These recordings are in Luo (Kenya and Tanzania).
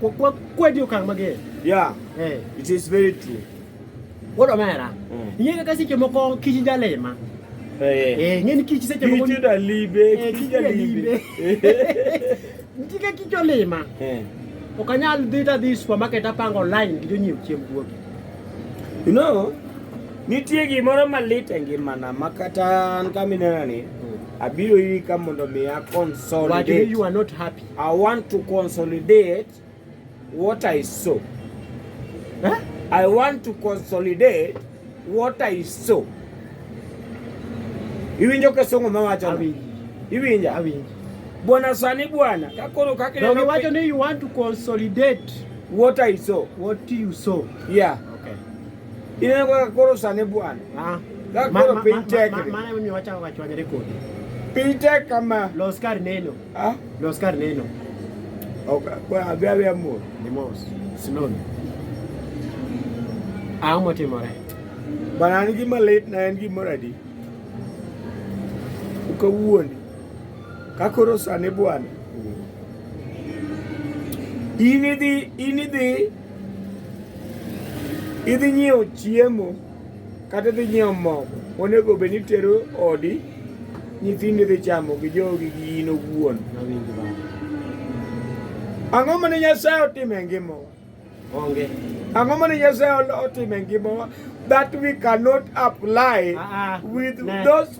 Kwa kwa kwa dio kang mage. Yeah. Eh. It is very true. What a matter. Mm. Yega kasi ke moko kijinja lema. Eh. Eh, ngeni kiji se ke moko. Kiji da libe, eh, kiji da libe. Ndika kiji lema. Eh. Okanyal dhi ta dhi supermarket apango online gi jonyiew chiemb guogi. You know, nitie gimoro malit e ngimana ma kata an kaminenani mm. abiro iri ka mondo mi a consolidate. Why you are not happy? I want to consolidate what I sow. Huh? I want to consolidate what I sow. Iwinjo ka songo ma wacho. Awinjo. Iwinja? Awinjo. Bwana sani bwana, kakoro kakile. No, wacho ni you want to consolidate what I sow. What you sow. Yeah. Okay. Ine kwa kakoro sani bwana. Ah. Kakoro piny tek. Maana mimi wacha wachwanyere kodi. Piny tek kama. Los kar neno. Ah? Los kar neno. Okay, kwa abia abia mo. Ni mo. Sinon. Ah, mo timore. Bana ni gima late na en gima radi. Ukawuoni. Kakoro sani bwana. Ini di, ini di. Idhi nyiewo chiemo. kata dhi nyiewo mogo onego bed ni tero odi nyithindi dhi chamo gi jogi gi in owuon ang'o mane nyasaye otimo e ngimawa onge ang'o mane nyasaye otimo e ngimawa that we cannot apply uh ah, -uh. Ah. with no. those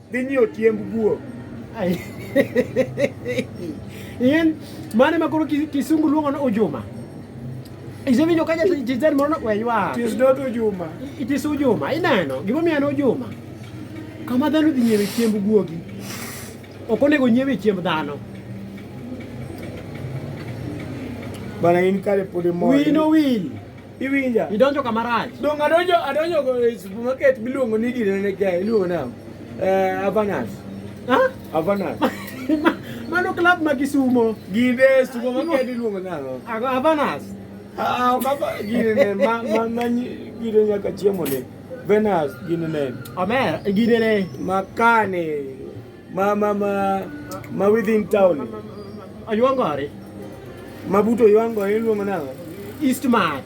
dhi nyiewo chiemb guo yien mane ma koro kisungu luongo ni ujuma isewinjo ka jatend moro weywa ujuma it is ujuma ineno gimomiyo en ujuma kama dhano dhi nyiewe chiemb guogi ok onego nyiewe chiemb dhano bana in kare pod imor wino wil Iwinja? Idonjo kama rach. Dongo adonjo adonjo go e supermarket miluongo ni gine ne ga iluongo na eh Avanas. Ha? Avanas. Mano club ma Kisumo. Gine supermarket iluongo na no. Ago Avanas. Ah, baba gine ne ma ma ma gine nyaka chiemo ne. Venas gine ne. Amer gine ne. Makane. Ma ma ma ma within town. Ayuango are. Mabuto yuango iluongo nang'o? East Mart.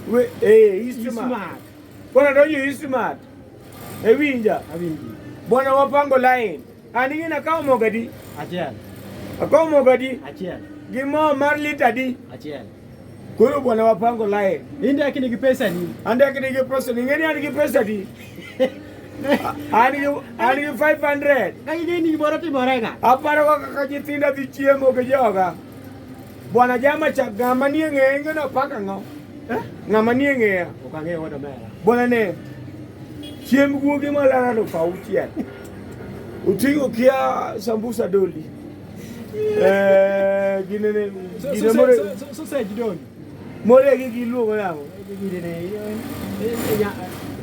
We eh East Mart. Bwana donjo East Mart. Ewinja. Awinji. Bwana wapango line. An ing'ina kawo mogo adi? Achiel. Akawo mogo adi? Achiel. Gi mo mar lita adi? Achiel. Koro bwana wapango lae. Inde akini gi pesa ni. Ande akini gi pesa ni. Ngeni ani gi pesa di. Ani ani 500. Kai ni ni bora ti bora ga. Aparo ka ka jitinda di chiemo ke joga. Bwana jama cha gama ni ng'e ng'e no paka ngo. Eh? Ng'ama ni ng'e. Okang'e wodo mera. Bwana ne. Chiemb guogi malaro fa uchiel. Utingo kia sambusa doli. Eh, gini ni gini more so se jidoni more gi gi luogo yawo gini ne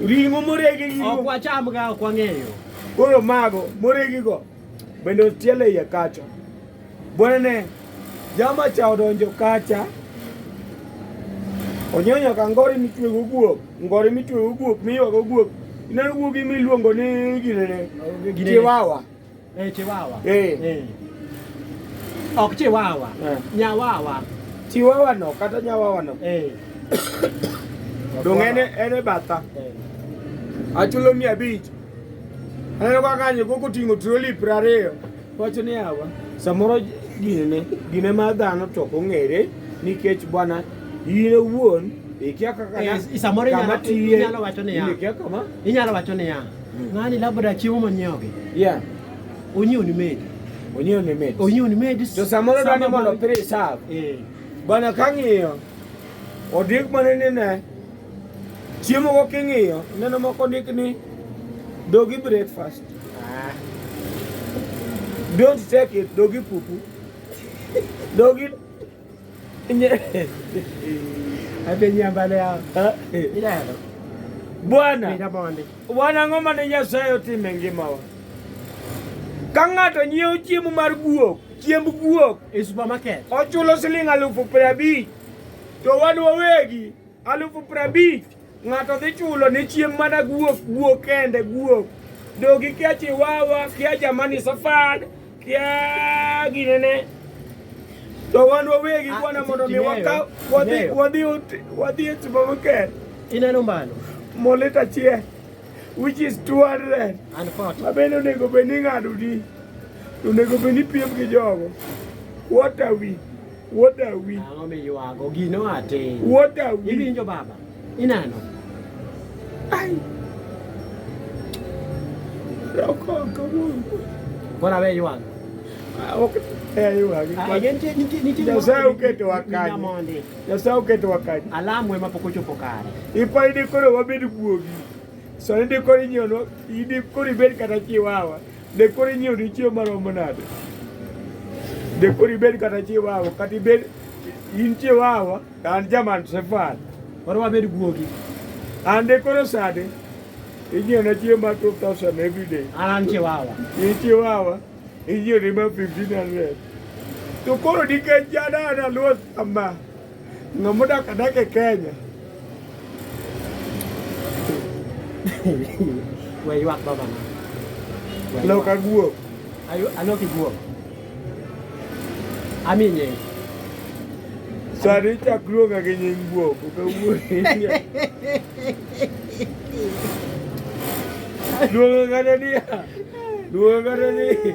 ringo more gi gi ok wacham ga ok wang'eyo koro mago more gi go bende otiele iye kacha bwana jama cha odonjo kacha onyonya ka ngori mitwe go guok ngori mitwe go guok miwa go guok ineno guogi miluongo ni gine ne giwawa Eh, chiwawa. Eh. Eh. Ok chiwawa. Eh. Nyawawa. Chiwawa no kata nyawawa no. Eh. Dong en en e batha. Eh. Achulo mia abich. Aneno kaka kanyo koko ting'o troli piero ariyo. Wacho ni awa. Samoro gine gine ma dhano to ok ong'ere nikech bwana in owuon ikia kaka Yes, isamoro inyalo- inyalo wacho niya. ikia kama Inyalo wacho niya. Ng'ani labda chiemo monyiewogi. Yeah. Onyiew ni medi. Onyiew ni medi. Onyiew ni medi. To samoro dani mondo pire sav. Eh. Bana kang'iyo odik mane ni ne chiemo go king'iyo neno moko ndik ni dogi breakfast. Ah. Don't take it dogi pupu. Dogi Bwana bwana ng'oma ne Nyasaye otime ngimawa ka ng'ato nyiewo chiemo mar guok chiemb guok e supermarket ochulo siling' alufu piero abich to wan wawegi alufu prabich ng'ato dhi chulo ne chiem mana guok guok kende guok dogi kia chiwawa kia jamani safad kia ginene to wan wawegi ah, kwana mondo mi wakaw wadhi wadhi wadhi e timo maker ineno mbano molit achiel which is 200 mabende onego bed ni ng'ado di onego bed ni piem gi jogo what are we Wuod Awi. Ang'o miywago? Gino atin. Wuod Awi. Iwinjo baba? Inano? Ai. Roko kawuono. Kora we ywago. Ah, ok eh ywago. Ah, nitie nitie nitie. Nyasaye oketo wakati. Nyasaye oketo wakati. Alamu ema pok ochopo kare. Ipa idi koro wabed guogi. Sani ndi koro inyono, idi koro ibed kata chiwawa. Be koro inyiewo ni chiemo maromo nade? Be koro ibed kata chiwawa kata ibed in chiwawa to an jaman sefal. Koro wabed guogi. An de koro sade inyiewo na chiemo mar 2000 every day. An an chiwawa. In chiwawa inyiewo ni ma 1500. To koro nikech jadana luo sama Ng'ama odak adak e Kenya. We ywak baba. Lok aguo. Ayo alok iguo. Ami nying. Sani chak luonga gi nying guo. Luonga ng'ane niya. Luonga ng'ane niya.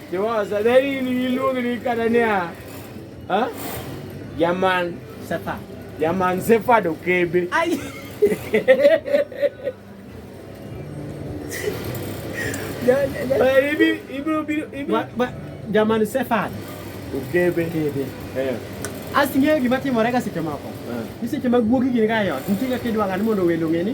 Yaman Sefa. Yaman Sefa do kebe. Ay. Ibi ibi ibi ibi. Yaman Sefa. Okebe. Okebe. Eh. Asing'eyo gima timore ka seche moko. Ni eh. seche ma guogi gin ka yot, nitie kaka idwang'a ni mondo welo ng'e ni